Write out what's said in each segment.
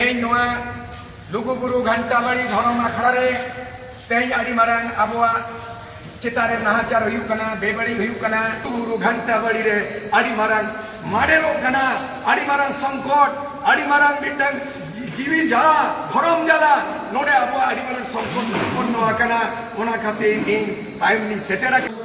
ᱛᱮᱦᱮᱧ ᱱᱚᱣᱟ ᱞᱩᱜᱩᱵᱩᱨᱩ ᱜᱷᱟᱱᱴᱟᱵᱟᱲᱤ ᱫᱷᱚᱨᱚᱢ ᱟᱠᱷᱲᱟ ᱨᱮ ᱛᱮᱦᱮᱧ ᱟᱹᱰᱤ ᱢᱟᱨᱟᱝ ᱟᱵᱚᱣᱟᱜ ᱪᱮᱛᱟᱱ ᱨᱮ ᱱᱟᱦᱟᱪᱟᱨ ᱦᱩᱭᱩᱜ ᱠᱟᱱᱟ ᱵᱮᱵᱟᱹᱲᱤᱡ ᱦᱩᱭᱩᱜ ᱠᱟᱱᱟ ᱞᱩᱜᱩᱵᱩᱨᱩ ᱜᱷᱟᱱᱴᱟᱵᱟᱲᱤ ᱨᱮ ᱟᱹᱰᱤ ᱢᱟᱨᱟᱝ ᱢᱟᱰᱮᱨᱚᱜ ᱠᱟᱱᱟ ᱟᱹᱰᱤ ᱢᱟᱨᱟᱝ ᱥᱚᱝᱠᱚᱴ ᱟᱹᱰᱤ ᱢᱟᱨᱟᱝ ᱢᱤᱫᱴᱟᱝ ᱡᱤᱣᱤ ᱡᱟᱞᱟ ᱫᱷᱚᱨᱚᱢ ᱡᱟᱞᱟ ᱱᱚᱰᱮ ᱟᱵᱚᱣᱟᱜ ᱟᱹᱰᱤ ᱢᱟᱨᱟᱝ ᱥᱚᱝᱠᱚᱴ ᱩᱛᱯᱚᱱᱱᱚ ᱟᱠᱟᱱᱟ ᱚᱱᱟ ᱠᱷᱟᱹᱛᱤᱨ ᱤᱧ ᱛᱟᱭᱚᱢ ᱞᱤᱧ ᱥᱮᱴᱮᱨ ᱟᱠᱟᱱᱟ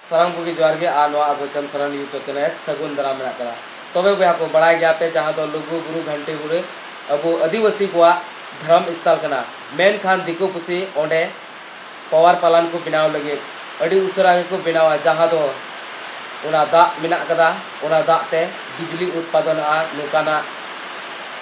ᱥᱟᱱᱟᱢ ᱠᱚᱜᱮ ᱡᱚᱦᱟᱨ ᱜᱮ ᱟᱨ ᱱᱚᱣᱟ ᱟᱵᱚ ᱪᱟᱸᱫᱽ ᱥᱟᱨᱟᱱ ᱤᱭᱩᱴᱩᱵᱽ ᱪᱮᱱᱮᱞ ᱨᱮ ᱥᱟᱹᱜᱩᱱ ᱫᱟᱨᱟᱢ ᱢᱮᱱᱟᱜ ᱠᱟᱫᱟ ᱛᱚᱵᱮ ᱵᱚᱭᱦᱟ ᱠᱚ ᱵᱟᱲᱟᱭ ᱜᱮᱭᱟ ᱯᱮ ᱡᱟᱦᱟᱸ ᱫᱚ ᱞᱩᱜᱩ ᱵᱩᱨᱩ ᱜᱷᱟᱱᱴᱤ ᱵᱩᱨᱩ ᱟᱵᱚ ᱟᱹᱫᱤᱵᱟᱹᱥᱤ ᱠᱚᱣᱟᱜ ᱫᱷᱚᱨᱚᱢ ᱥᱛᱷᱟᱱ ᱠᱟᱱᱟ ᱢᱮᱱᱠᱷᱟᱱ ᱫᱤᱠᱩ ᱯᱩᱥᱤ ᱚᱸᱰᱮ ᱯᱟᱣᱟᱨ ᱯᱟᱞᱟᱱ ᱠᱚ ᱵᱮᱱᱟᱣ ᱞᱟᱹᱜᱤᱫ ᱟᱹᱰᱤ ᱩᱥᱟᱹᱨᱟ ᱜᱮᱠᱚ ᱵᱮᱱᱟᱣᱟ ᱡᱟᱦᱟᱸ ᱫᱚ ᱚᱱᱟ ᱫᱟᱜ ᱢᱮᱱᱟᱜ ᱟᱠᱟᱫᱟ ᱚᱱᱟ ᱫᱟᱜ ᱛᱮ ᱵᱤᱡᱽᱞᱤ ᱩᱛᱯᱟᱫᱚᱱᱚᱜᱼᱟ ᱱᱚᱝᱠᱟᱱᱟᱜ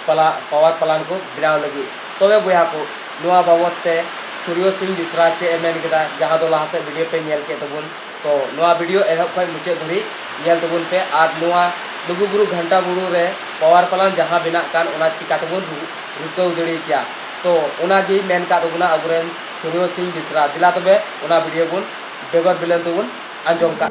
ᱯᱟᱞᱟ ᱯᱟᱣᱟᱨ ᱯᱟᱞᱟᱱ ᱠᱚ ᱵᱮᱱᱟᱣ ᱞᱟᱹᱜᱤᱫ ᱛᱚᱵᱮ ᱵᱚᱭᱦᱟ ᱠᱚ ᱱᱚᱣᱟ ᱵᱟᱵᱚᱛ ᱛᱮ ᱥᱩᱨᱭᱚ ᱥᱤᱝ ᱵᱤᱥᱨᱟ ᱪᱮᱫ ᱮ ᱢᱮᱱ ᱠᱮᱫᱟ ᱡᱟᱦᱟᱸ ᱫᱚ ᱞᱟᱦᱟ ᱥᱮᱫ ᱵᱷᱤᱰᱤᱭᱳ ᱯᱮ ᱧᱮᱞ ᱠᱮᱫ ᱛᱟᱵᱚᱱ ᱛᱚ ᱱᱚᱣᱟ ᱵᱷᱤᱰᱤᱭᱳ ᱮᱦᱚᱵ ᱠᱷᱚᱱ ᱢᱩᱪᱟᱹᱫ ᱫᱷᱟᱹᱨᱤᱡ ᱧᱮᱞ ᱛᱟᱵᱚᱱ ᱯᱮ ᱟᱨ ᱱᱚᱣᱟ ᱞᱩᱜᱩ ᱵᱩᱨᱩ ᱜᱷᱟᱱᱴᱟ ᱵᱩᱨᱩ ᱨᱮ ᱯᱟᱣᱟᱨ ᱯᱟᱞᱟᱱ ᱡᱟᱦᱟᱸ ᱵᱮᱱᱟᱜ ᱠᱟᱱ ᱚᱱᱟ ᱪᱤᱠᱟᱹ ᱛᱮᱵᱚᱱ ᱨᱩᱠᱟᱹᱣ ᱫᱟᱲᱮ ᱠᱮᱭᱟ ᱛᱚ ᱚᱱᱟ ᱜᱮᱭ ᱢᱮᱱ ᱟᱠᱟᱫ ᱛᱟᱵᱚᱱᱟ ᱟᱵᱚ ᱨᱮᱱ ᱥᱩᱱᱤᱭᱚ ᱥᱤᱝ ᱵᱤᱥᱨᱟ ᱫᱮᱞᱟ ᱛᱚᱵᱮ ᱚᱱᱟ ᱵᱷᱤᱰᱤᱭᱳ ᱵᱚᱱ ᱵᱮᱜᱚᱨ ᱵᱤᱞᱚᱢ ᱛᱮᱵᱚᱱ ᱟᱸᱡᱚᱢ ᱠᱟᱜ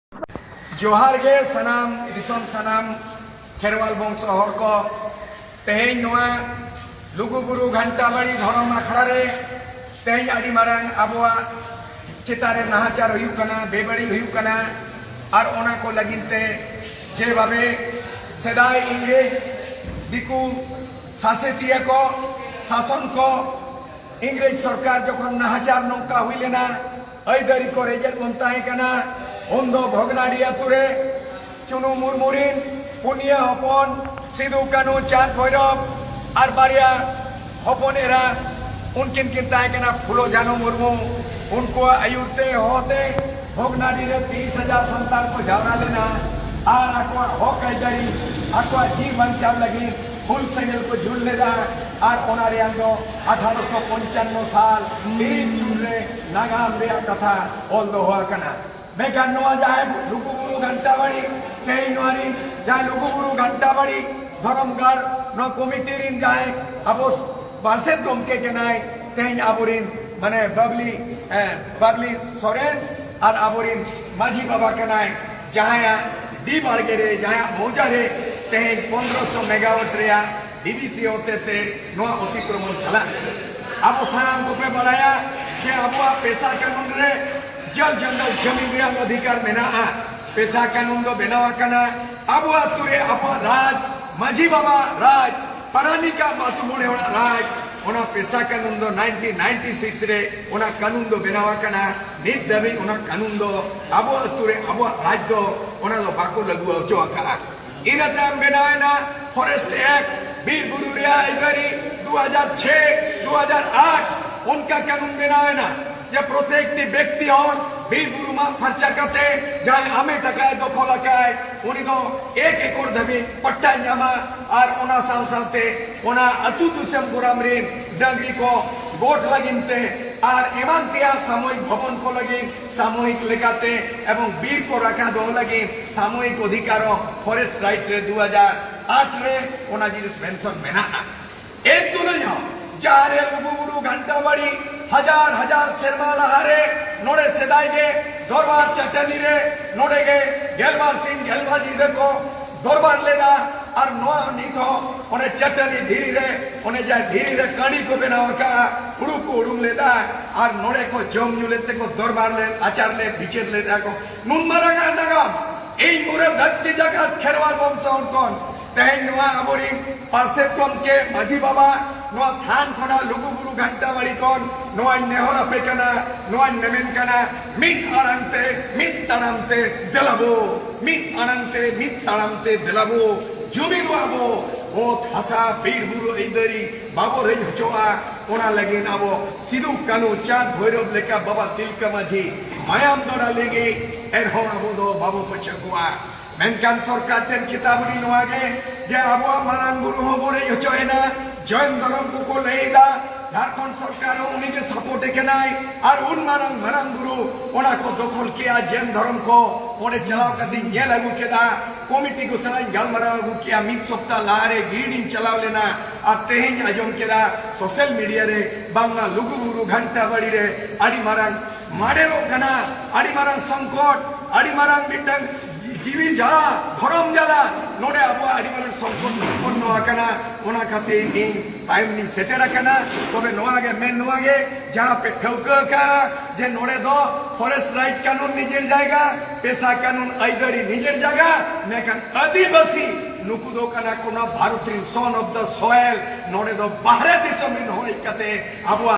ᱡᱚᱦᱟᱨ ᱜᱮ ᱥᱟᱱᱟᱢ ᱫᱤᱥᱚᱢ ᱥᱟᱱᱟᱢ ᱠᱷᱮᱨᱣᱟᱞ ᱵᱚᱝᱥᱚ ᱦᱚᱲ ᱠᱚ ᱛᱮᱦᱮᱧ ᱱᱚᱣᱟ ᱞᱩᱜᱩ ᱵᱩᱨᱩ ᱜᱷᱟᱱᱴᱟ ᱵᱟᱲᱤ ᱫᱷᱚᱨᱚᱢ ᱟᱠᱷᱲᱟ ᱨᱮ ᱛᱮᱦᱮᱧ ᱟᱹᱰᱤ ᱢᱟᱨᱟᱝ ᱟᱵᱚᱣᱟᱜ ᱪᱮᱛᱟᱱ ᱨᱮ ᱱᱟᱦᱟᱪᱟᱨ ᱦᱩᱭᱩᱜ ᱠᱟᱱᱟ ᱵᱮᱵᱟᱹᱲᱤᱡ ᱦᱩᱭᱩᱜ ᱠᱟᱱᱟ ᱟᱨ ᱚᱱᱟ ᱠᱚ ᱞᱟᱹᱜᱤᱫ ᱛᱮ ᱡᱮ ᱵᱷᱟᱵᱮ ᱥᱮᱫᱟᱭ ᱤᱝᱨᱮᱡᱽ ᱫᱤᱠᱩ ᱥᱟᱥᱮᱛᱤᱭᱟᱹ ᱠᱚ ᱥᱟᱥᱚᱱ ᱠᱚ ᱤᱝᱨᱮᱡᱽ ᱥᱚᱨᱠᱟᱨ ᱡᱚᱠᱷᱚᱱ ᱱᱟᱦᱟᱪᱟᱨ ᱱᱚᱝᱠᱟ ᱦᱩᱭ ᱞᱮᱱᱟ ᱟᱹᱭᱫᱟᱹᱨᱤ ᱠᱚ ᱨᱮᱡᱮᱫ ᱵᱚᱱ ᱛᱟᱦᱮᱸ ᱠᱟᱱᱟ ᱩᱱ ᱫᱚ ᱵᱷᱚᱜᱽᱱᱟᱰᱤ ᱟᱹᱛᱩ ᱨᱮ ᱪᱩᱱᱩ ᱢᱩᱨᱢᱩ ᱨᱤᱱ ᱯᱩᱱᱭᱟᱹ ᱦᱚᱯᱚᱱ ᱥᱤᱫᱩ ᱠᱟᱹᱱᱩ ᱪᱟᱸᱫᱽ ᱵᱷᱳᱭᱨᱚᱵᱽ ᱟᱨ ᱵᱟᱨᱭᱟ ᱦᱚᱯᱚᱱ ᱮᱨᱟ ᱩᱱᱠᱤᱱ ᱠᱤᱱ ᱛᱟᱦᱮᱸ ᱠᱟᱱᱟ ᱯᱷᱩᱞᱳ ᱡᱷᱟᱱᱩ ᱢᱩᱨᱢᱩ ᱩᱱᱠᱩᱣᱟᱜ ᱟᱹᱭᱩᱨ ᱛᱮ ᱦᱚᱦᱚ ᱛᱮ ᱵᱷᱚᱜᱽᱱᱟᱰᱤ ᱨᱮ ᱛᱤᱨᱤᱥ ᱦᱟᱡᱟᱨ ᱥᱟᱱᱛᱟᱲ ᱠᱚ ᱡᱟᱣᱨᱟ ᱞᱮᱱᱟ ᱟᱨ ᱟᱠᱚᱣᱟᱜ ᱦᱚᱠ ᱟᱹᱭᱫᱟᱹᱨᱤ ᱟᱠᱚᱣᱟᱜ ᱡᱤᱣᱤ ᱵᱟᱧᱪᱟᱣ ᱞᱟᱹᱜᱤᱫ ᱦᱩᱞ ᱥᱮᱸᱜᱮᱞ ᱠᱚ ᱡᱩᱞ ᱞᱮᱫᱟ ᱟᱨ ᱚᱱᱟ ᱨᱮᱭᱟᱝ ᱫᱚ ᱟᱴᱷᱟᱨᱚᱥᱚ ᱯᱚᱧᱪᱟᱱᱱᱚ ᱥᱟᱞ ᱛᱤᱨᱤᱥ ᱡᱩᱱ ᱨᱮ ᱱᱟᱜᱟᱢ ᱨᱮᱭᱟᱜ ᱠᱟᱛᱷᱟ ᱚᱞ ᱫᱚᱦᱚ ᱟᱠᱟᱱᱟ ᱢᱮᱱᱠᱷᱟᱱ ᱱᱚᱣᱟ ᱡᱟᱦᱮᱨ ᱞᱩᱜᱩᱵᱩᱨᱩ ᱜᱷᱟᱱᱴᱟᱵᱟᱲᱤ ᱛᱮᱦᱮᱧ ᱱᱚᱣᱟ ᱨᱤᱱ ᱡᱟᱦᱟᱸᱭ ᱞᱩᱜᱩᱵᱩᱨᱩ ᱜᱷᱟᱱᱴᱟᱵᱟᱲᱤ ᱫᱷᱚᱨᱚᱢ ᱜᱟᱲ ᱱᱚᱣᱟ ᱠᱚᱢᱤᱴᱤ ᱨᱤᱱ ᱡᱟᱦᱟᱸᱭ ᱟᱵᱚ ᱯᱟᱨᱥᱮᱫ ᱜᱚᱢᱠᱮ ᱠᱟᱱᱟᱭ ᱛᱮᱦᱮᱧ ᱟᱵᱚᱨᱤᱱ ᱢᱟᱱᱮ ᱵᱟᱵᱞᱤ ᱵᱟᱵᱞᱤ ᱥᱚᱨᱮᱱ ᱟᱨ ᱟᱵᱚᱨᱤᱱ ᱢᱟᱹᱡᱷᱤ ᱵᱟᱵᱟ ᱠᱟᱱᱟᱭ ᱡᱟᱦᱟᱸᱭᱟᱜ ᱰᱤ ᱵᱟᱲᱜᱮ ᱨᱮ ᱡᱟᱦᱟᱸᱭᱟᱜ ᱢᱚᱣᱡᱟ ᱨᱮ ᱛᱮᱦᱮᱧ ᱯᱚᱱᱨᱚᱥᱚ ᱢᱮᱜᱟᱣᱟᱴ ᱨᱮᱭᱟᱜ ᱰᱤᱵᱤᱥᱤ ᱦᱚᱛᱮᱛᱮ ᱱᱚᱣᱟ ᱚᱛᱤᱠᱨᱚᱢᱚᱱ ᱪᱟᱞᱟᱜ ᱟᱵᱚ ᱥᱟᱱᱟᱢ ᱠᱚᱯᱮ ᱵᱟᱲᱟᱭᱟ ᱡᱮ ᱟᱵᱚᱣᱟᱜ ᱯᱮᱥᱟ ᱠᱟᱹᱱᱩᱱ ᱨᱮ ᱡᱚᱞ ᱡᱚᱝᱜᱚᱞ ᱡᱚᱢᱤᱱ ᱨᱮᱭᱟᱜ ᱚᱫᱷᱤᱠᱟᱨ ᱢᱮᱱᱟᱜᱼᱟ ᱯᱮᱥᱟ ᱠᱟᱹᱱᱩᱱ ᱫᱚ ᱵᱮᱱᱟᱣ ᱟᱠᱟᱱᱟ ᱟᱵᱚ ᱟᱛᱳ ᱨᱮ ᱟᱵᱚᱣᱟᱜ ᱨᱟᱡᱽ ᱢᱟᱹᱡᱷᱤ ᱵᱟᱵᱟ ᱨᱟᱡᱽ ᱯᱟᱨᱟᱱᱤᱠᱟ ᱟᱛᱳ ᱢᱚᱬᱮ ᱦᱚᱲᱟᱜ ᱨᱟᱡᱽ ᱚᱱᱟ ᱯᱮᱥᱟ ᱠᱟᱹᱱᱩᱱ ᱫᱚ 1996 ᱨᱮ ᱚᱱᱟ ᱠᱟᱹᱱᱩᱱ ᱫᱚ ᱵᱮᱱᱟᱣ ᱟᱠᱟᱱᱟ ᱱᱤᱛ ᱫᱷᱟᱹᱵᱤᱡ ᱚᱱᱟ ᱠᱟᱹᱱᱩᱱ ᱫᱚ ᱟᱵᱚ ᱟᱛᱳ ᱨᱮ ᱟᱵᱚᱣᱟᱜ ᱨᱟᱡᱽ ᱫᱚ ᱚᱱᱟ ᱫᱚ ᱵᱟᱠᱚ ᱞᱟᱹᱜᱩ ᱦᱚᱪᱚ ᱟᱠᱟᱫᱼᱟ ᱤᱱᱟᱹ ᱛᱟᱭᱚᱢ ᱵᱮᱱᱟᱣᱮᱱᱟ ᱯᱷᱚᱨᱮᱥᱴ ᱮᱠᱴ ᱵᱤᱨ ᱵᱩᱨᱩ ᱨᱮᱭᱟᱜ ᱟᱹᱭᱫᱟᱹᱨᱤ 2006 2008 ᱚᱱᱠᱟ ᱠᱟᱹᱱᱩᱱ ᱵᱮᱱᱟᱣᱮᱱᱟ ᱡᱮ ᱯᱨᱚᱛᱮᱠᱴᱤ ᱵᱮᱠᱛᱤ ᱦᱚᱲ ᱵᱤᱨ ᱵᱩᱨᱩ ᱢᱟᱜ ᱯᱷᱟᱨᱪᱟ ᱠᱟᱛᱮ ᱡᱟᱦᱟᱸᱭ ᱟᱢᱮᱴ ᱟᱠᱟᱭ ᱫᱚᱠᱷᱚᱞ ᱟᱠᱟᱭ ᱩᱱᱤ ᱫᱚ ᱮᱠ ᱮᱠᱚᱨ ᱫᱷᱟᱹᱵᱤᱡ ᱯᱟᱴᱴᱟᱭ ᱧᱟᱢᱟ ᱟᱨ ᱚᱱᱟ ᱥᱟᱶ ᱥᱟᱶᱛᱮ ᱚᱱᱟ ᱟᱹᱛᱩ ᱫᱤᱥᱚᱢ ᱜᱚᱨᱟᱢ ᱨᱤᱱ ᱰᱟᱹᱝᱨᱤ ᱠᱚ ᱜᱚᱴ ᱞᱟᱹᱜᱤᱫ ᱛᱮ ᱟᱨ ᱮᱢᱟᱱ ᱛᱮᱭᱟᱜ ᱥᱟᱢᱚᱭᱤᱠ ᱵᱷᱚᱵᱚᱱ ᱠᱚ ᱞᱟᱹᱜᱤᱫ ᱥᱟᱢᱚᱭᱤᱠ ᱞᱮᱠᱟᱛᱮ ᱮᱵᱚᱝ ᱵᱤᱨ ᱠᱚ ᱨᱟᱠᱷᱟ ᱫᱚᱦᱚ ᱞᱟᱹᱜᱤᱫ ᱥᱟᱢᱚᱭᱤᱠ ᱚᱫᱷᱤᱠᱟᱨ ᱦᱚᱸ ᱯᱷᱚᱨᱮᱥᱴ ᱨᱟᱭᱤᱴ ᱨᱮ ᱫᱩ ᱦᱟᱡᱟᱨ ᱟᱴ ᱨᱮ ᱚᱱᱟ ᱡᱤᱱᱤᱥ ᱢᱮᱱᱥᱚᱱ ᱢᱮᱱᱟᱜᱼᱟ᱾ ᱮᱱ ᱛᱩᱞᱩᱡ ᱦᱚᱸ ᱡᱟᱦᱟᱸ ᱨᱮ ᱞᱩᱜᱩ ᱵᱩᱨᱩ ᱜᱷᱟᱱᱴᱟ ᱵᱟᱲᱤ ᱦᱟᱡᱟᱨ ᱦᱟᱡᱟᱨ ᱥᱮᱨᱢᱟ ᱞᱟᱦᱟ ᱨᱮ ᱱᱚᱰᱮ ᱥᱮᱫᱟᱭ ᱜᱮ ᱫᱚᱨᱵᱟᱨ ᱪᱟᱹᱴᱟᱹᱱᱤ ᱨᱮ ᱱᱚᱰᱮ ᱜᱮ ᱜᱮᱞᱵᱟᱨ ᱥᱤᱧ ᱜᱮᱞᱵᱟᱨ ᱧᱤᱫᱟᱹ ᱠᱚ ᱫᱚᱨᱵᱟᱨ ᱞᱮᱫᱟ ᱟᱨ ᱱᱚᱣᱟ ᱱᱤᱛ ᱦᱚᱸ ᱚᱱᱮ ᱪᱟᱹᱴᱟᱹᱱᱤ ᱫᱷᱤᱨᱤ ᱨᱮ ᱚᱱᱮ ᱡᱟᱦᱟᱸ ᱫᱷᱤᱨᱤ ᱨᱮ ᱠᱟᱹᱬᱤ ᱠᱚ ᱵᱮᱱᱟᱣ ᱟᱠᱟᱫᱼᱟ ᱦᱩᱲᱩ ᱠᱚ ᱩᱰᱩᱝ ᱞᱮᱫᱼᱟ ᱟᱨ ᱱᱚᱰᱮ ᱠᱚ ᱡᱚᱢ ᱧᱩ ᱞᱮᱫ ᱛᱮᱠᱚ ᱫᱚᱨᱵᱟᱨ ᱞᱮᱫ ᱟᱪᱟᱨ ᱞᱮᱫ ᱵᱤᱪᱟᱹᱨ ᱞᱮᱫᱼᱟ ᱠᱚ ᱱᱩᱱ ᱢᱟᱨᱟᱝ ᱟᱜ ᱱᱟᱜᱟᱢ ᱤᱧ ᱯᱩᱨᱟᱹ ᱫᱷᱟᱹᱨᱛᱤ ᱡᱟᱠᱟᱛ ᱠᱷᱮᱨᱣᱟᱞ ᱵᱚᱝᱥᱚ ᱦᱚᱲ ᱠᱚ ᱛᱮᱦᱮᱧ ᱱᱚᱣᱟ ᱟᱵᱚ ᱨᱤᱱ ᱯᱟᱨᱥᱮᱛ ᱜᱚᱢᱠᱮ ᱢᱟᱹᱡᱷᱤ ᱵᱟᱵᱟ ᱱᱚᱣᱟ ᱛᱷᱟᱱ ᱠᱷᱚᱱᱟᱜ ᱞᱩᱜᱩ ᱵᱩᱨᱩ ᱜᱷᱟᱱᱴᱟ ᱵᱟᱲᱤ ᱠᱷᱚᱱ ᱱᱚᱣᱟᱧ ᱱᱮᱦᱚᱨ ᱟᱯᱮ ᱠᱟᱱᱟ ᱱᱚᱣᱟᱧ ᱢᱮᱢᱮᱱ ᱠᱟᱱᱟ ᱢᱤᱫ ᱟᱲᱟᱝ ᱛᱮ ᱢᱤᱫ ᱛᱟᱲᱟᱢ ᱛᱮ ᱫᱮᱞᱟᱵᱚ ᱢᱤᱫ ᱟᱲᱟᱝ ᱛᱮ ᱢᱤᱫ ᱛᱟᱲᱟᱢ ᱛᱮ ᱫᱮᱞᱟᱵᱚ ᱡᱩᱢᱤᱫ ᱟᱵᱚ ᱚᱛ ᱦᱟᱥᱟ ᱵᱤᱨ ᱵᱩᱨᱩ ᱟᱹᱭᱫᱟᱹᱨᱤ ᱵᱟᱵᱚ ᱨᱮᱡ ᱦᱚᱪᱚᱜᱼᱟ ᱚᱱᱟ ᱞᱟᱹᱜᱤᱫ ᱟᱵᱚ ᱥᱤᱫᱩ ᱠᱟᱹᱱᱩ ᱪᱟᱸᱫᱽ ᱵᱷᱳᱭᱨᱚᱵ ᱞᱮᱠᱟ ᱵᱟᱵᱟ ᱛᱤᱞᱠᱟᱹ ᱢᱟᱹᱡᱷᱤ ᱢᱟᱭᱟᱢ ᱜᱟᱰᱟ ᱞᱤᱸᱜᱤ ᱮᱱᱦᱚᱸ ᱟᱵᱚ ᱫᱚ ᱵᱟᱵᱚ ᱯᱟᱹᱪᱷᱟᱹ ᱠᱚᱣᱟ ᱢᱮᱱᱠᱷᱟᱱ ᱥᱚᱨᱠᱟᱨ ᱴᱷᱮᱱ ᱪᱮᱛᱟᱣᱱᱤ ᱱᱚᱣᱟ ᱜᱮ ᱡᱮ ᱟᱵᱚᱣᱟᱜ ᱢᱟᱨᱟᱝ ᱵᱩᱨᱩ ᱦᱚᱸ ᱵᱚᱱ ᱨᱮᱡ ᱦᱚᱪᱚᱭᱮᱱᱟ ᱡᱚᱭᱱ ᱫᱷᱚᱨᱚᱢ ᱠᱚᱠᱚ ᱞᱟᱹᱭᱮᱫᱟ ᱡᱷᱟᱲᱠᱷᱚᱸᱰ ᱥᱚᱨᱠᱟᱨ ᱦᱚᱸ ᱩᱱᱤ ᱜᱮ ᱥᱟᱯᱳᱨᱴ ᱮ ᱠᱟᱱᱟᱭ ᱟᱨ ᱩᱱ ᱢᱟᱨᱟᱝ ᱢᱟᱨᱟᱝ ᱵᱩᱨᱩ ᱚᱱᱟ ᱠᱚ ᱫᱚᱠᱷᱚᱞ ᱠᱮᱜᱼᱟ ᱡᱚᱭᱱ ᱫᱷᱚᱨᱚᱢ ᱠᱚ ᱚᱸᱰᱮ ᱪᱟᱞᱟᱣ ᱠᱟᱛᱮ ᱧᱮᱞ ᱟᱹᱜᱩ ᱠᱮᱫᱟ ᱠᱚᱢᱤᱴᱤ ᱠᱚ ᱥᱟᱞᱟᱜ ᱤᱧ ᱜᱟᱞᱢᱟᱨᱟᱣ ᱟᱹᱜᱩ ᱠᱮᱜᱼᱟ ᱢᱤᱫ ᱥᱚᱯᱛᱟ ᱞᱟᱦᱟᱨᱮ ᱜᱤᱨᱤᱰᱤᱧ ᱪᱟᱞᱟᱣ ᱞᱮᱱᱟ ᱟᱨ ᱛᱮᱦᱮᱧ ᱟᱸᱡᱚᱢ ᱠᱮᱫᱟ ᱥᱳᱥᱟᱞ ᱢᱤᱰᱤᱭᱟ ᱨᱮ ᱵᱟᱝᱢᱟ ᱞᱩᱜᱩᱵᱩᱨᱩ ᱜᱷᱟᱱᱴᱟ ᱵᱟᱲᱤ ᱨᱮ ᱟᱹᱰᱤ ᱢᱟᱨᱟᱝ ᱢᱟᱰᱮᱨᱚᱜ ᱠᱟᱱᱟ ᱟᱹᱰᱤ ᱢᱟᱨᱟᱝ ᱥᱚᱝᱠᱚᱴ ᱟᱹᱰᱤ ᱢᱟᱨᱟᱝ ᱢᱤᱫᱴᱟᱝ ᱡᱤᱣᱤ ᱡᱟᱞᱟ ᱫᱷᱚᱨᱚᱢ ᱡᱟᱞᱟ ᱱᱚᱰᱮ ᱟᱵᱚᱣᱟᱜ ᱟᱹᱰᱤ ᱢᱟᱨᱟᱝ ᱥᱚᱝᱠᱚᱴ ᱩᱛᱯᱚᱱᱱᱚ ᱟᱠᱟᱱᱟ ᱚᱱᱟ ᱠᱷᱟᱹᱛᱤᱨ ᱤᱧ ᱛᱟᱭᱚᱢ ᱞᱤᱧ ᱥᱮᱴᱮᱨ ᱟᱠᱟᱱᱟ ᱛᱚᱵᱮ ᱱᱚᱣᱟ ᱜᱮ ᱢᱮᱱ ᱱᱚᱣᱟ ᱜᱮ ᱡᱟᱦᱟᱸ ᱯᱮ ᱴᱷᱟᱹᱣᱠᱟᱹ ᱟᱠᱟᱜᱼᱟ ᱡᱮ ᱱᱚᱰᱮ ᱫᱚ ᱯᱷᱚᱨᱮᱥᱴ ᱨᱟᱭᱤᱴ ᱠᱟᱹᱱᱩᱱ ᱱᱤᱡᱮᱨ ᱡᱟᱭᱜᱟ ᱯᱮᱥᱟ ᱠᱟᱹᱱᱩᱱ ᱟᱹᱭᱫᱟᱹᱨᱤ ᱱᱤᱡᱮᱨ ᱡᱟᱭᱜᱟ ᱢᱮᱱᱠᱷᱟᱱ ᱟᱹᱫᱤᱵᱟᱹᱥᱤ ᱱᱩᱠᱩ ᱫᱚ ᱠᱟᱱᱟ ᱠᱚ ᱱᱚᱣᱟ ᱵᱷᱟᱨᱚᱛ ᱨᱤᱱ ᱥᱚᱱ ᱚᱯᱷ ᱫᱟ ᱥᱚᱭᱮᱞ ᱱᱚᱰᱮ ᱫᱚ ᱵᱟᱦᱨᱮ ᱫᱤᱥᱚᱢ ᱨᱤᱱ ᱦᱚᱲ ᱦᱮᱡ ᱠᱟᱛᱮ ᱟᱵᱚᱣᱟᱜ